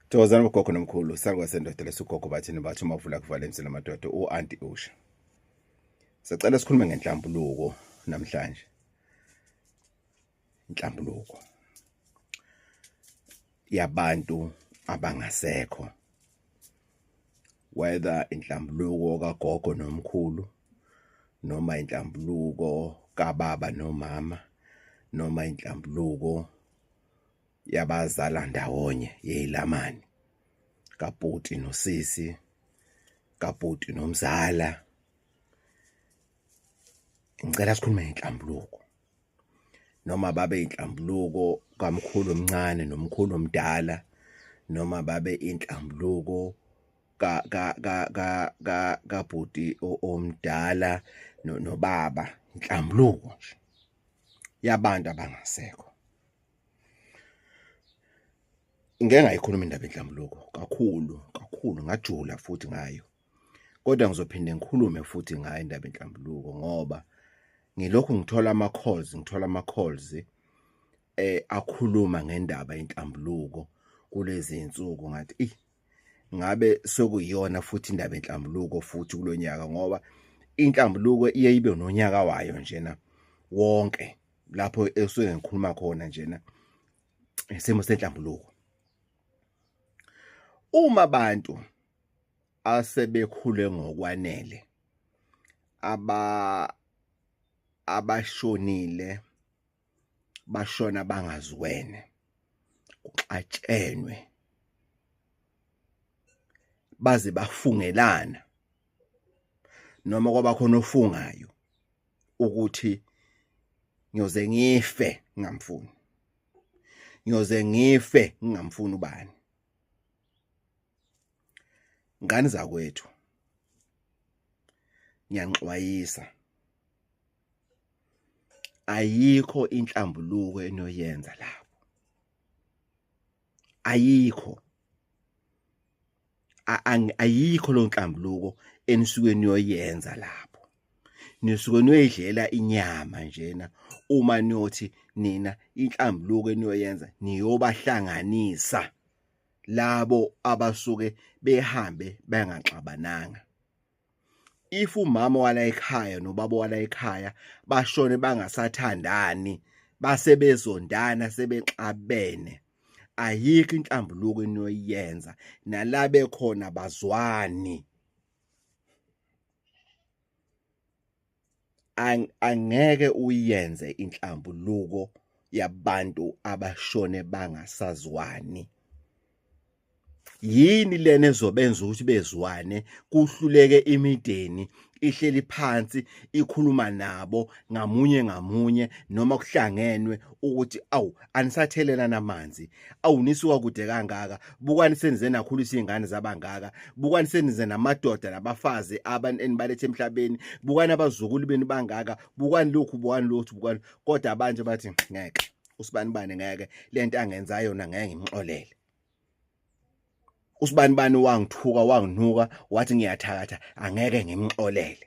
Thokozani bogogo nomkhulu salwa sendoda lesugogo bathini bathi uma uvula kuvala emsini amadoda u-anti usha sicela sikhulume ngenhlambuluko namhlanje inhlambuluko yabantu abangasekho whether inhlambuluko kagogo nomkhulu noma inhlambuluko kababa nomama noma inhlambuluko yabazala ndawonye yeyilamani kaputi nosisi kaputi nomzala ngicela sikhulume ngenhlambuluko noma babe inhlambuluko kamkhulu omncane nomkhulu omdala noma babe inhlambuluko ka ka ka ka ka kabhuti omdala nobaba inhlambuluko nje yabantu abangasekho ngeke ngayikhuluma indaba enhlambuluko kakhulu kakhulu ngajula futhi ngayo kodwa ngizophinde ngikhulume futhi ngayo indaba enhlambuluko ngoba ngilokhu ngithola ama calls ngithola ama calls eh akhuluma ngendaba yenhlambuluko kulezi insuku ngathi eh ngabe sokuyona futhi indaba enhlambuluko futhi kulonyaka ngoba inhlambuluko iye ibe nonyaka wayo njena wonke lapho esuke ngikhuluma khona njena isimo senhlambuluko uma abantu asebekhule ngokwanele aba abashonile bashona bangaziwene kuxatshenwe baze bafungelana noma kwaba khona ofungayo ukuthi ngiyoze ngife ngingamfuni ngiyoze ngife ngingamfuni ubani ngani zakwethu ngiyanixwayisa ayikho inhlambuluko enoyenza lapho ayikho ayikho lonhlambuluko enisuke niyoyenza lapho nisuke niyoyidlela inyama njena uma niyothi nina inhlambuluko eniyoyenza niyobahlanganisa labo abasuke behambe bengaxabananga if umama wala ekhaya nobaba wala ekhaya bashone bangasathandani base bezondana sebexabene ayikho inhlambuluko enoyenza nala bekhona bazwani angeke uyenze inhlambuluko yabantu abashone bangasazwani yini lena ezobenza ukuthi bezwane kuhluleke imideni ihleli phansi ikhuluma nabo ngamunye ngamunye noma kuhlangenwe ukuthi awu anisathelela namanzi awunisuka kude kangaka bukani senize nakhulisa izingane zabangaka bukani senize namadoda nabafazi abantu enibalethe emhlabeni bukani abazukulu benu bangaka bukani lokhu bukani lokhu bukani kodwa abanje bathi ngeke usibani bani ngeke lento angenza yona ngeke ngimxolele usibani bani wangithuka wanginuka wathi ngiyathakatha angeke ngimxolele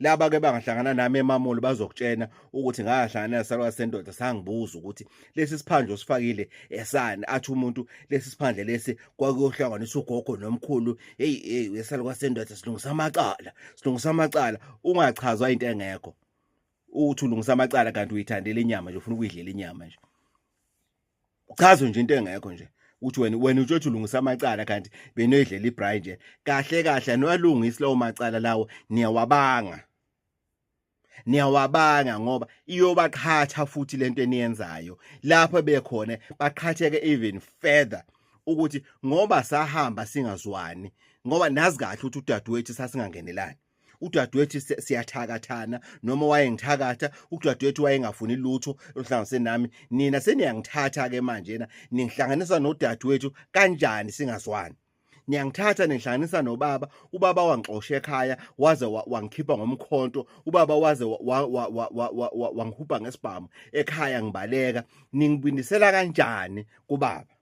laba ke bangahlangana nami emamolo bazokutshena ukuthi ngahlangana nasalwa sendoda sangibuza ukuthi lesi siphandle osifakile esani athi umuntu lesi siphandle lesi kwakuyohlanganisa ugogo nomkhulu hey hey wesalwa sendoda silungisa amacala silungisa amacala ungachazwa into engekho uthi ulungisa amacala kanti uyithandela inyama nje ufuna ukuyidlela inyama nje chazo nje into engekho nje uthi wena wena utshothi ulungisa amacala kanti benoyidlela ibrayi nje kahle kahle anowalungisi lawo macala lawo niyawabanga niyawabanga ngoba iyobaqhatha futhi lento eniyenzayo lapho bekhona baqhatheke even further ukuthi ngoba sahamba singazwani ngoba nazi kahle ukuthi udadewethu sasingangenelani udadewethu siyathakathana noma wayengithakatha udadewethu wayengafuni lutho oluhlanganise nami nina seniyangithatha ke manje na ningihlanganisa nodadewethu kanjani singazwani niyangithatha nihlanganisa nobaba ubaba wangixosha ekhaya waze wangikhipha ngomkhonto ubaba waze wangihubha ngesibhamu ekhaya ngibaleka ningibindisela kanjani kubaba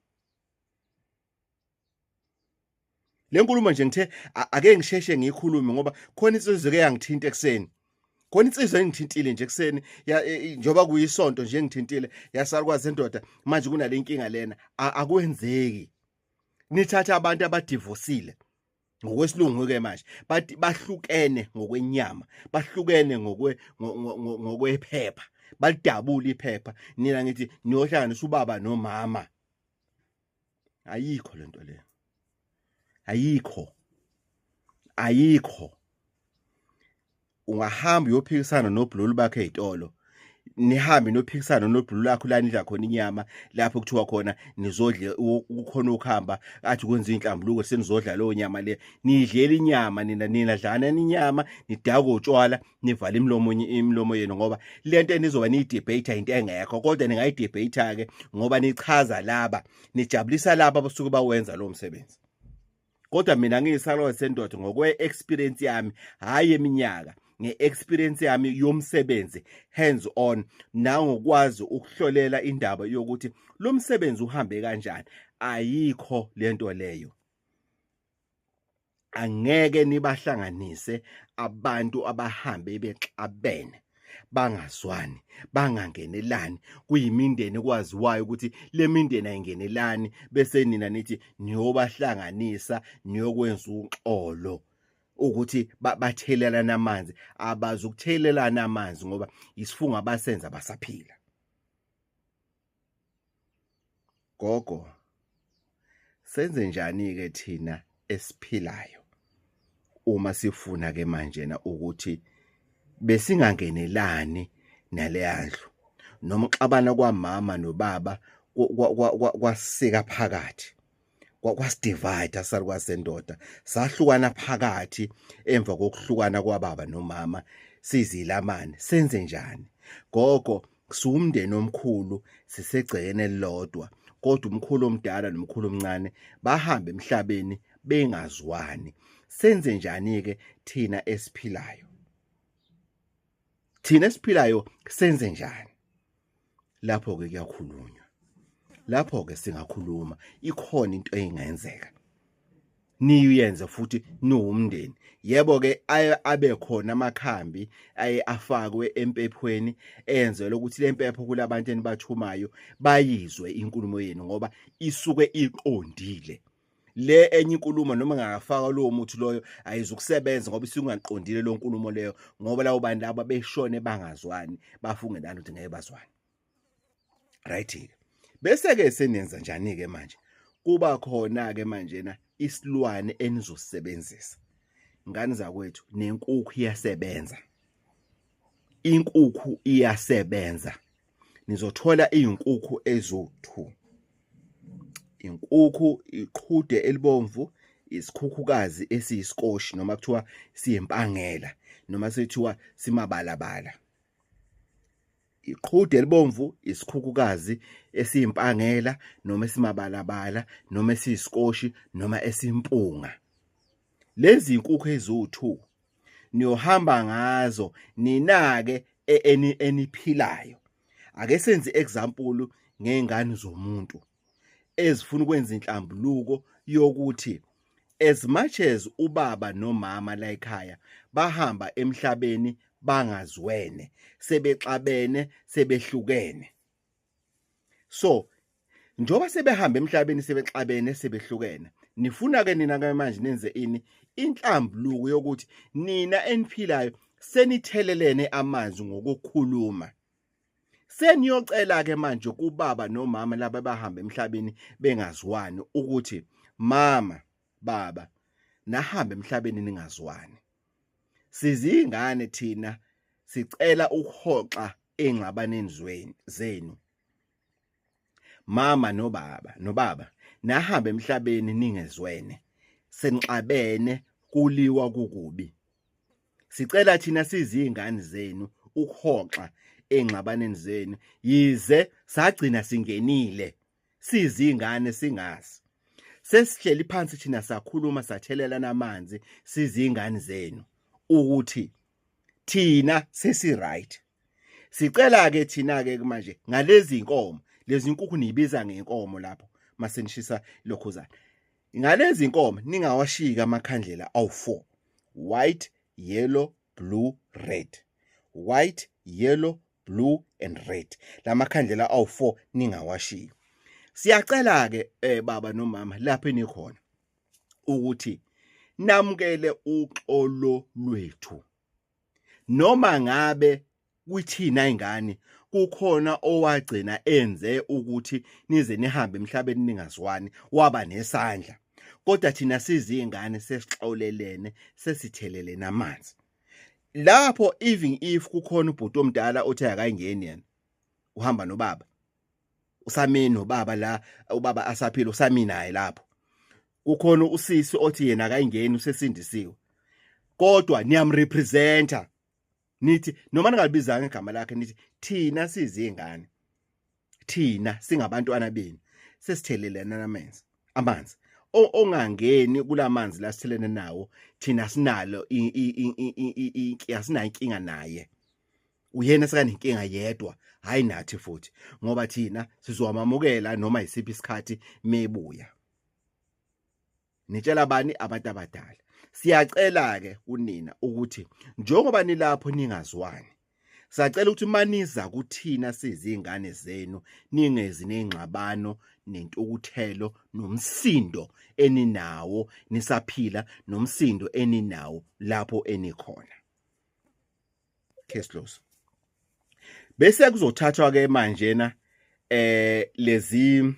le nkulumo nje ngithe ake ngisheshe ngiyikhulume ngoba khona insizwe eke yangithinta ekuseni khona insizwa engithintile nje ekuseni e, njengoba kuyisonto nje engithintile yasalukwazi endoda manje kunale nkinga lena akwenzeki nithatha abantu abadivosile ngokwesilungu ke manje bathi bahlukene ngokwenyama bahlukene ngokwe ngokwephepha balidabula iphepha nina ngithi niyohlanganisa ubaba nomama ayikho lento le ayikho ayikho ungahamba uyophikisana nobhululu bakhe ezitolo nihambe nophikisana nobhulu lakho la nidla khona inyama lapho kuthiwa khona nizodle kukhona ukuhamba athi kwenza inhlambuluko senizodla leyo nyama le nidlela inyama nina nina dlana inyama nidako utshwala nivala imlomo imlomo yenu ngoba lento enizoba niyidebate into engekho kodwa ningayidebate ke ngoba nichaza laba nijabulisa laba abasuke bawenza lo msebenzi kodwa mina ngiyisalo sendoda ngokwe experience yami hayi eminyaka ngeexperience yami yomsebenzi hands on nangokwazi ukuhlolela indaba yokuthi lo msebenzi uhambe kanjani ayikho lento leyo angeke nibahlanganise abantu abahambe bexabene bangazwani bangangenelani kuyimindeni kwaziwayo ukuthi le mindeni ayingenelani bese nina nithi niyobahlanganisa niyokwenza uxolo ukuthi bathelelana amanzi abazi ukuthelelana amanzi ngoba isifungo abasenza basaphila gogo senze njani ke thina esiphilayo uma sifuna ke manje na ukuthi besingangenelani naleyandlu noma uxabana kwamama nobaba kwasika phakathi kwasidivide asalukazi sendoda sahlukana phakathi emva kokuhlukana kwababa nomama sizilamane senze njani gogo siwumndeni omkhulu sisegcekeni elilodwa kodwa umkhulu omdala nomkhulu omncane bahambe emhlabeni bengazwani senze njani ke thina esiphilayo thina esiphilayo senze njani lapho-ke kuyakhulunywa lapho-ke singakhuluma ikhona into engenzeka niyenze futhi niwumndeni yebo-ke aye abe khona amakhambi aye afakwe empephweni enzelwe ukuthi le mpepho kulabantu enibathumayo bayizwe inkulumo yenu ngoba isuke iqondile le enye inkulumo noma ngingafaka lowo muthi loyo ayizukusebenza ngoba isingaqondile lo nkulumo leyo ngoba lawo bantu laba beshone bangazwani bafunge nalo ukuthi ngeke bazwane right bese ke senenza njani ke manje kuba khona ke manje na isilwane enizosebenzisa ngani zakwethu nenkukhu iyasebenza inkukhu iyasebenza nizothola izinkukhu ezothu inkukhu iqhude elibomvu isikhukhukazi esiyisikoshi noma kuthiwa siyempangela noma sethiwa simabalabala iqhude elibomvu isikhukhukazi esiyimpangela noma esimabalabala noma esiyisikoshi noma esimpunga lezi inkukhu eziwu2 niyohamba ngazo ninake e-, eniphilayo ake senze example ngezingane zomuntu ezifuna ukwenza inhlambuluko yokuthi as much as ubaba nomama la ekhaya bahamba emhlabeni bangaziwene sebexabene sebehlukene so njoba sebehamba emhlabeni sebexabene sebehlukene nifuna ke nina ke manje nenze ini inhlambuluko yokuthi nina eniphilayo senithelelene amanzi ngokukhuluma seniyocela ke manje kubaba nomama laba bahamba emhlabeni bengaziwani ukuthi mama baba nahambe emhlabeni ningaziwani Sizingane thina sicela ukuhoxa engxabaneni zweni zenu. Mama nobaba nobaba nahambe emhlabeni ningezwene senixabene kuliwa kukubi. Sicela thina sizingane zenu ukuhoxa engxabaneni zenu yize sagcina singenile sizingane singazi sesihleli phansi thina sakhuluma sathelelana amanzi sizingane zenu ukuthi thina sesi right sicela ke thina ke manje ngalezi inkomo lezi inkukhu niyibiza ngenkomo lapho masenishisa lokhuzana ngalezi inkomo ningawashika amakhandlela awu4 white yellow blue red white yellow blue and red lamakhandlela awu4 ningawashiyi siyacela ke eh baba nomama lapho enikhona ukuthi namukele uxolo lwethu noma ngabe kwithina ingane kukhona owagcina enze ukuthi nize nihambe emhlabeni ningazwani waba nesandla kodwa thina sizingane sesixolelene sesithelelene amanzi lapho even if kukhona ubhuti omdala othe akayingeni yena uhamba nobaba usamini nobaba la ubaba asaphila usamini naye lapho kukhona usisi othi yena akayingeni usesindisiwe kodwa niyamrepresenta nithi noma ningalibiza ngegama lakhe nithi thina sizingane thina singabantwana benu sesithelelana namanzi amanzi ongangeni kulamanzi lasithelene nawo thina sinalo asinayo inkinga naye uyena sekanenkinga yedwa hayi nathi futhi ngoba thina sizowamamukela noma yisiphi isikhathi mebuya nitshela bani abantu abadala siyacela ke kunina ukuthi njengoba nilapho ningazwani sacela ukuthi maniza kuthina sizingane zenu ningezi nengxabano nentukuthelo nomsindo eninawo nisaphila nomsindo eninawo lapho enikhona case close bese kuzothathwa ke manje na eh lezi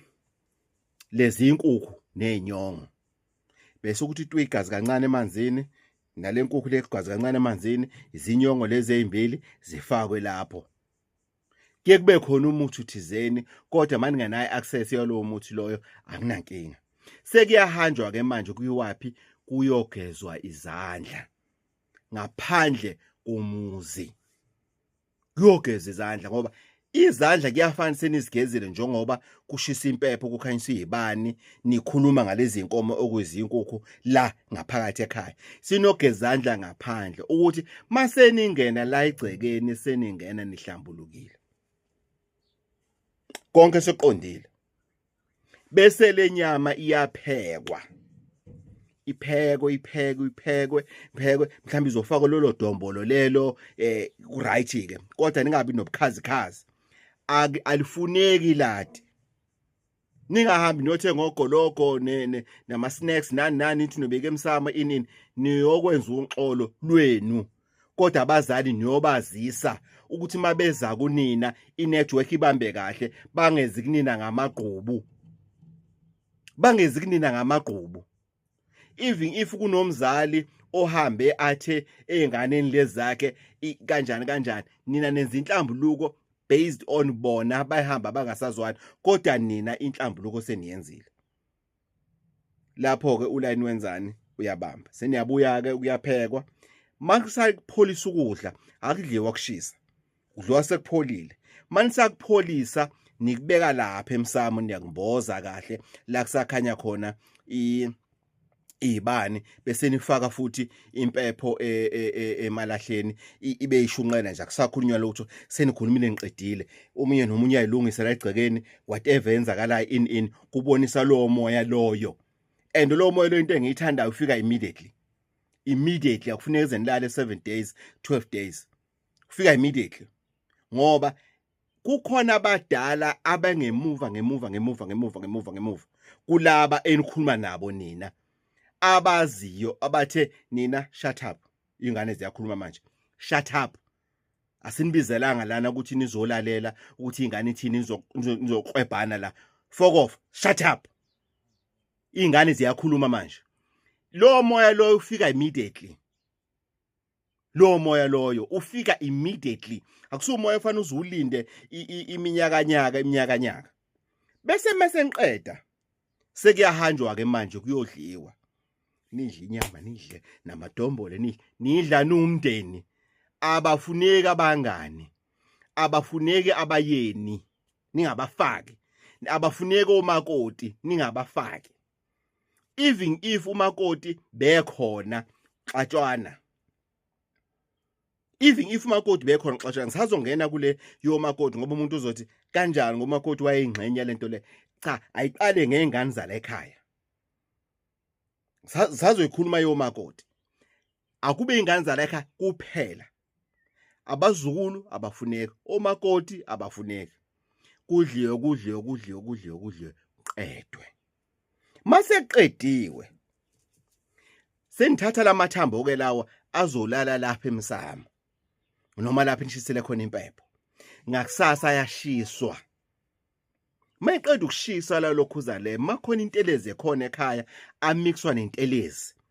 lezi inkukhu nezinyongo bese ukuthi itwe igazi kancane emanzini nalenkukhu legazi kancane emanzini izinyongo lezi ezimbili zifakwe lapho kuye kube khona umuthi uthizeni kodwa manje ngenayo access yalowo muthi loyo anginankinga sekuyahanjwa ke manje kuyiwaphi kuyogezwa izandla ngaphandle komuzi kuyogeza izandla ngoba izandla kuyafana senizigezile njengoba kushisa impepho kukhanyiswa izibani nikhuluma ngalezi nkomo okuyizinkukhu la ngaphakathi ekhaya sinogezandla ngaphandle ukuthi maseningena la igcekeni seningena nihlambulukile konke soqondile bese lenyama iyaphekwa iphekwe iphekwe iphekwe iphekwe mhlawumbe izofakwa lolo dombolo lelo eh right ke kodwa ningabi nobukhazikhazi alifuneki lati ningahambi niyothenga ogologo nama-snacks nani nani nithi nobeke emsamo inini niyokwenza unxolo lwenu kodwa abazali niyobazisa ukuthi mabeza kunina inetwork ibambe kahle bangezi kunina ngamagqubu bangezi kunina ngamagqubu even if kunomzali ohambe athe ezinganeni lezakhe kanjani kanjani nina nenza inhlambuluko based on bona bayihamba bangasazwani kodwa nina inhlambuluko seniyenzile lapho ke ulayini wenzani uyabamba seniyabuya ke kuyaphekwa makusakupholisa ukudla akudliwa kushisa udliwa sekupholile manisakupholisa nikubeka lapha emsamo niyakumboza kahle la kusakhanya khona i ibani bese nifaka futhi impepho e, e, e, emalahleni ibe ishunqela nje akusakhulunywa lutho senikhulumile ngiqedile umunye nomunye ayilungise la egcekeni whatever enzakalayo in in kubonisa lowo moya loyo and lowo moya loyo into engiyithandayo ufika immediately immediately akufuneka ize nilale 7 days 12 days ufika immediately ngoba kukhona abadala abangemuva ngemuva ngemuva ngemuva ngemuva ngemuva kulaba enikhuluma nabo nina abaziyo abathe nina shut up ingane ziyakhuluma manje shut up asinibizelanga lana ukuthi nizolalela ukuthi ingane ithini nizokwebhana la fuck off shut up ingane ziyakhuluma manje lo moya loyo ufika immediately lo moya loyo ufika immediately akusuwo moya ofanele uzulinde iminyakanyaka iminyakanyaka bese mase ngiqeda sekuyahanjwa ke manje kuyodliwa nidle inyama nidle namadombole nidle nidla numndeni abafuneki abangani abafuneki abayeni ningabafaki abafuneki omakoti ningabafaki even if umakoti bekhona xatshwana even if umakoti bekhona xesha ngisazongena kule yomakoti ngoba umuntu uzothi kanjani ngoba umakoti wayeyingxenye lento le cha ayiqale ngezingane zala ekhaya sazoyikhuluma yomakoti akube ingane zala ekhaya kuphela abazukulu abafuneki omakoti abafuneki kudliwe kudliwe kudliwe kudliwe kudliwe qedwe maseqediwe senithatha lamathambo ke lawa azolala lapha emsamo noma lapha nishisele khona impepho ngakusasa yashiswa mayiqeda ukushisa la lokhuza le makhona intelezi ekhona ekhaya amixwa nentelezi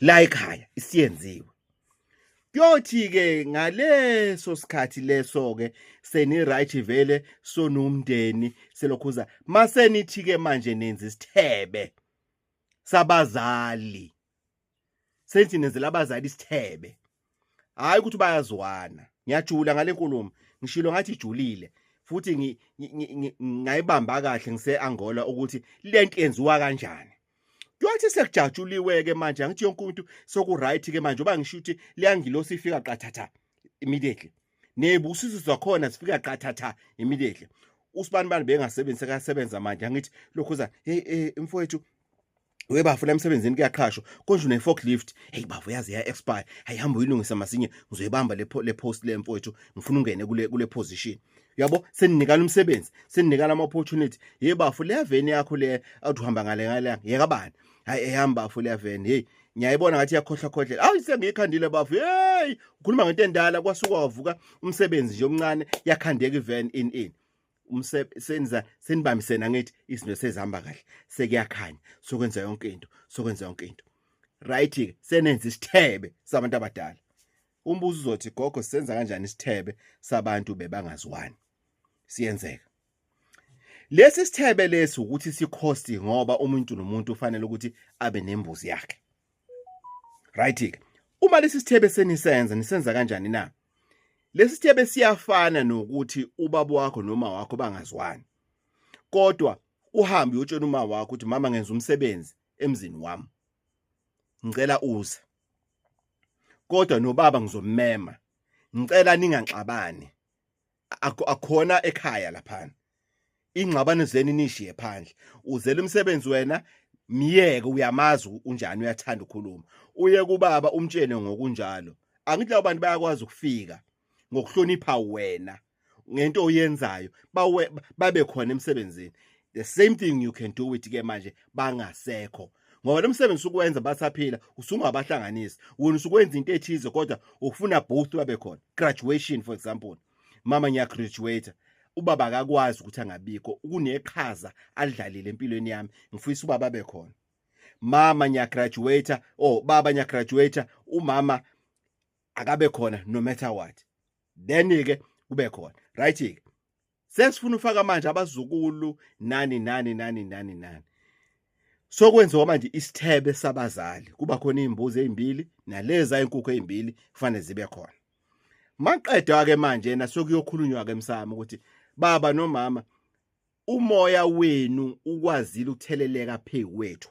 la ekhaya isiyenziwe kuyothi ke ngaleso sikhathi leso ke seni right vele sonomndeni selokhuza masenithi ke manje nenza isithebe sabazali senthi nenzela abazali isithebe hayi ukuthi bayazwana ngiyajula ngale nkulumo ngishilo ngathi ijulile futhi ngayibamba kahle ngise Angola ukuthi lento yenziwa kanjani Kuyothi sekujatshuliwe ke manje angithi yonke umuntu soku right ke manje uba ngisho ukuthi liyangilosi ifika qathatha immediately nebusiso zakhona sifika qathatha immediately usibani bani bengasebenzisa kasebenza manje angithi lokho za hey eh, mfowethu we bafuna emsebenzini kuyaqhashwa konje une forklift hey bafo yazi ya expire hayihamba uyilungisa masinye ngizoyibamba le le post le mfowethu ngifuna ungene kule kule position yabo seninikana umsebenzi seninikana ama opportunity hey bafo le veni yakho le awuthi uhamba ngale ngale yeka bani hayi ehamba bafo le veni hey ngiyayibona ngathi yakhohlwa khohlela awu sengiyikhandile bafo hey ukhuluma ngento endala kwasuka wavuka umsebenzi nje omncane yakhandeka ivan in in umsebenza senibambisene angithi izinto sezihamba kahle sekuyakhanya sokwenza yonke into sokwenza yonke into right ke senenza isithebe sabantu abadala umbuzo uzothi gogo senza kanjani isithebe sabantu bebangaziwani siyenzeka lesi sithebe lesi ukuthi sikhosti ngoba umuntu nomuntu ufanele ukuthi abe nembuzi yakhe right ke uma lesi sithebe senisenza nisenza kanjani na lesi sithebe siyafana nokuthi ubaba wakho noma wakho bangazwani kodwa uhambe uyotshela uma wakho ukuthi mama ngenza umsebenzi emzini wami ngicela uze kodwa nobaba ngizomema ngicela ningaxabani akhona ekhaya laphana ingxabano zeni nishiye phandle uzela umsebenzi wena myeke uyamazi unjani uyathanda ukukhuluma uye kubaba umtshene ngokunjalo angithi labo bantu bayakwazi ukufika ngokuhlonipha wena ngento oyenzayo babe khona emsebenzini the same thing you can do with ke manje bangasekho ngoba lo msebenzi usukuwenza basaphila usungabahlanganisi wena usukwenza into ethize kodwa ufuna both babe khona graduation for example mama ngiyagraduate ubaba akakwazi ukuthi angabikho kuneqhaza alidlalile empilweni yami ngifisa ubaba abe khona mama ngiyagraduate or oh, baba ngiyagraduate umama akabe khona no matter what then ke kube khona right ke sesifuna ufaka manje abazukulu nani nani nani nani nani sokwenziwa manje isithebe sabazali kuba khona izimbuzi ezimbili naleza inkukhu ezimbili kufanele zibe khona maqedwa ke manje yena sokuyokhulunywa ke emsamo ukuthi baba nomama umoya wenu ukwazile ukutheleleka phezu kwethu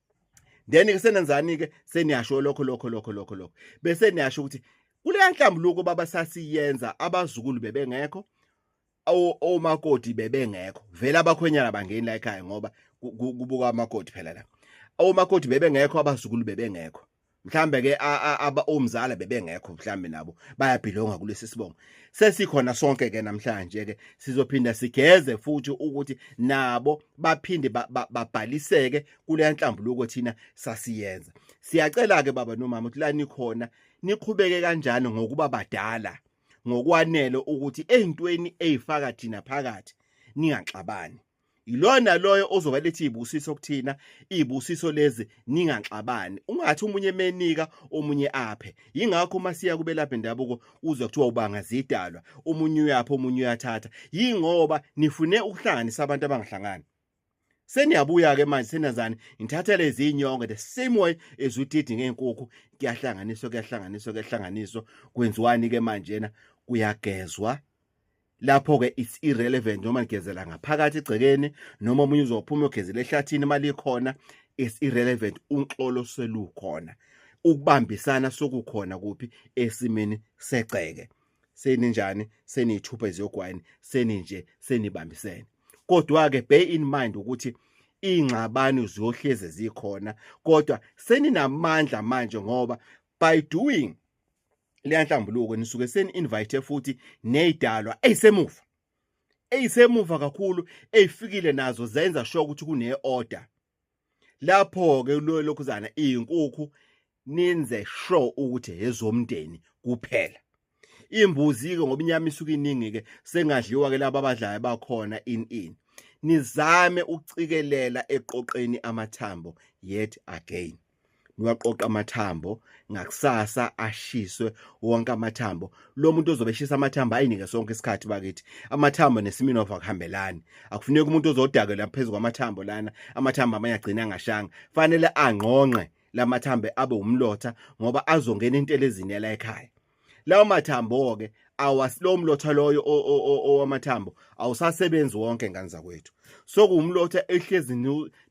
then ke senenzani ke seniyasho lokho lokho lokho lokho lokho bese niyasho ukuthi kuleya nhlambuluko baba sasiyenza abazukulu bebengekho omakoti bebengekho vele abakhwenyana bangeni la ekhaya ngoba kubuka amakoti phela la omakoti bebengekho abazukulu bebengekho mhlambe ke aba omzala bebengekho mhlambe nabo bayabhilonga kulesi sibongo sesikhona sonke ke namhlanje ke sizophinda sigeze futhi ukuthi nabo baphinde babhaliseke kule nhlambuluko thina sasiyenza siyacela ke baba nomama ukuthi la nikhona niqhubeke kanjani ngokuba badala ngokwanele ukuthi ezintweni ezifaka thina phakathi ningaxabani yilona loyo ozoba lethi izibusiso kuthina izibusiso lezi ningaxabani ungathi umunye menika omunye aphe yingakho uma siya kubelapha indabuko uzwa kuthiwa ubanga zidalwa umunye uyapha omunye uyathatha yingoba nifune ukuhlanganisa abantu abangahlangani seniyabuya ke manje senazani ngithatha lezi inyongo the same way as udidi ngeenkukhu kuyahlanganiswa kuyahlanganiswa kuyahlanganiswa kwenziwani ke manje na kuyagezwa lapho ke it's irrelevant noma ligezela ngaphakathi egcekeni noma omunye uzophuma ugezela ehlathini imali ikhona it's irrelevant unxolo selukhona ukubambisana sokukhona kuphi esimeni segceke seninjani seniyithupha iziyogwayini seninje senibambisene kodwa ke bear in mind ukuthi ingxabano ziyohleze zikhona kodwa seninamandla manje ngoba by doing leya nhlambuluko nisuke seni invite futhi nezidalwa ezisemuva ezisemuva kakhulu ezifikile nazo zenza sure ukuthi kune order lapho ke lokhuzana izinkukhu ninze sure ukuthi ezomndeni kuphela imbuzi ke ngoba inyama isuke iningi ke sengadliwa ke laba abadlayo bakhona in in nizame ukucikelela eqoqeni amathambo yet again niwaqoqa amathambo ngakusasa ashiswe wonke amathambo lo muntu ozobe eshisa amathambo ayinike sonke isikhathi bakithi amathambo nesimini of akuhambelani akufuneki umuntu ozodakela phezu kwamathambo lana amathambo amanye agcina angashanga fanele angqongqe lamathambo abe umlotha ngoba azongena intelezini yala ekhaya lawo mathambo ke awasilo mlotha loyo owamathambo awusasebenzi wonke ngane zakwethu so kuwumlotha ehlezi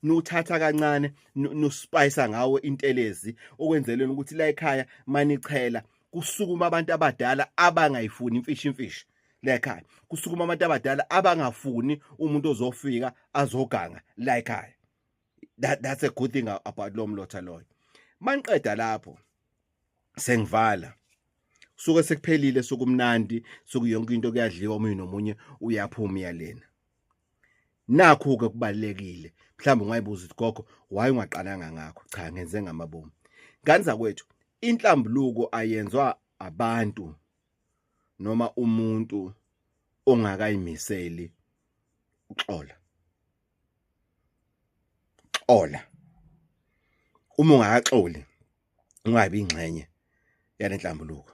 nuthatha kancane nuspayisa ngawo intelezi okwenzeleni ukuthi la ekhaya manichela kusukuma abantu abadala abangayifuni imfishi imfishi la ekhaya kusukuma abantu abadala abangafuni umuntu ozofika azoganga la ekhaya that, that's a good thing about lo mlotha loyo maniqeda lapho sengivala suke sekuphelile sokumnandi sokuyonke into kuyadliwa omunye nomunye uyaphuma iyalena nakho ke kubalekile mhlawumbe ungayibuza ukuthi gogo why ungaqananga ngakho cha ngenze ngamabomu ngani zakwethu inhlambuluko ayenzwa abantu noma umuntu ongakayimiseli uxola xola uma ungakaxoli ungabi ingxenye yale nhlambuluko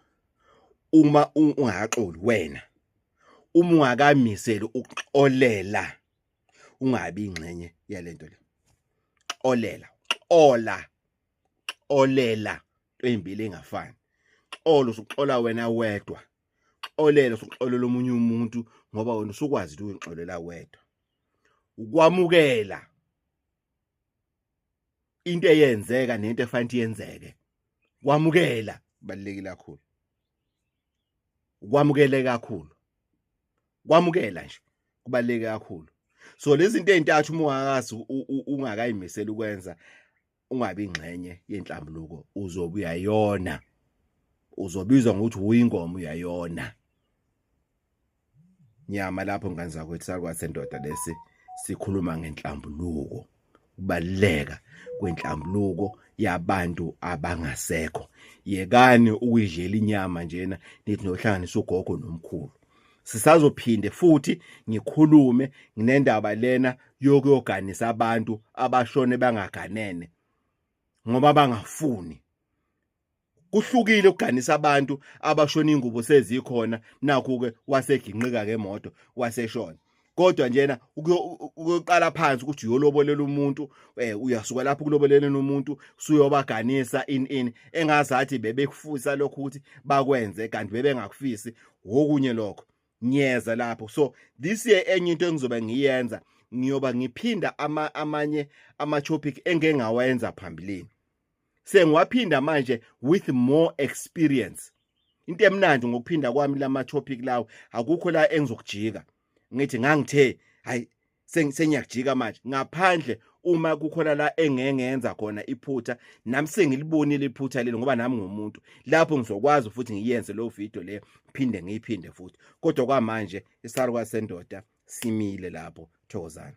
uma ungakaxoli wena uma ungakamiseli ukuxolela ungabi ingxenye yalento le xolela xola xolela ezimbili engafani xolo usuxola wena wedwa xolela usuxolela omunye umuntu ngoba wena usukwazi ukuthi uyixolela wedwa ukwamukela into eyenzeka nento efanele yenzeke kwamukela kubalekile kakhulu ukwamukele kakhulu kwamukela nje kubaleke kakhulu so lezi zinto ezintathu uma ungakazi ungakayimisela ukwenza ungabi ingxenye yenhlambuluko uzobe uyayona uzobizwa ngokuthi uyingoma uyayona nyama lapho ngane zakwethu sakwathi sendoda lesi sikhuluma ngenhlambuluko ukubaluleka kwenhlambuluko yabantu abangasekho yekani ukuyidlela inyama njena nithi nohlanganisa ugogo nomkhulu sisazophinde futhi ngikhulume nginendaba lena yokuyoganisa abantu abashone bangaganene ngoba bangafuni kuhlukile ukuganisa abantu abashona ingubo sezikhona nakho ke waseginqika ngemoto waseshona kodwa njena ukuyoqala phansi ukuthi uyolobolela umuntu eh uyasuka lapho kuloboleleni umuntu suyobaganisa in in engazathi bebekufusa lokho ukuthi bakwenze kanti bebengakufisi wokunye lokho ngiyeza lapho so this year enye into engizobe ngiyenza ngiyoba ngiphinda ama, amanye ama topic engengawenza phambilini sengiwaphinda manje with more experience into emnandi ngokuphinda kwami lama topic lawo akukho la engizokujika ngithi ngangithe hayi sengiyakujika manje ngaphandle uma kukhona la engengenza khona iphutha nami sengilibonile iphutha lelo ngoba nami ngomuntu lapho ngizokwazi futhi ngiyenze lo video le phinde ngiyiphinde futhi kodwa kwamanje isarwa sendoda simile lapho thokozana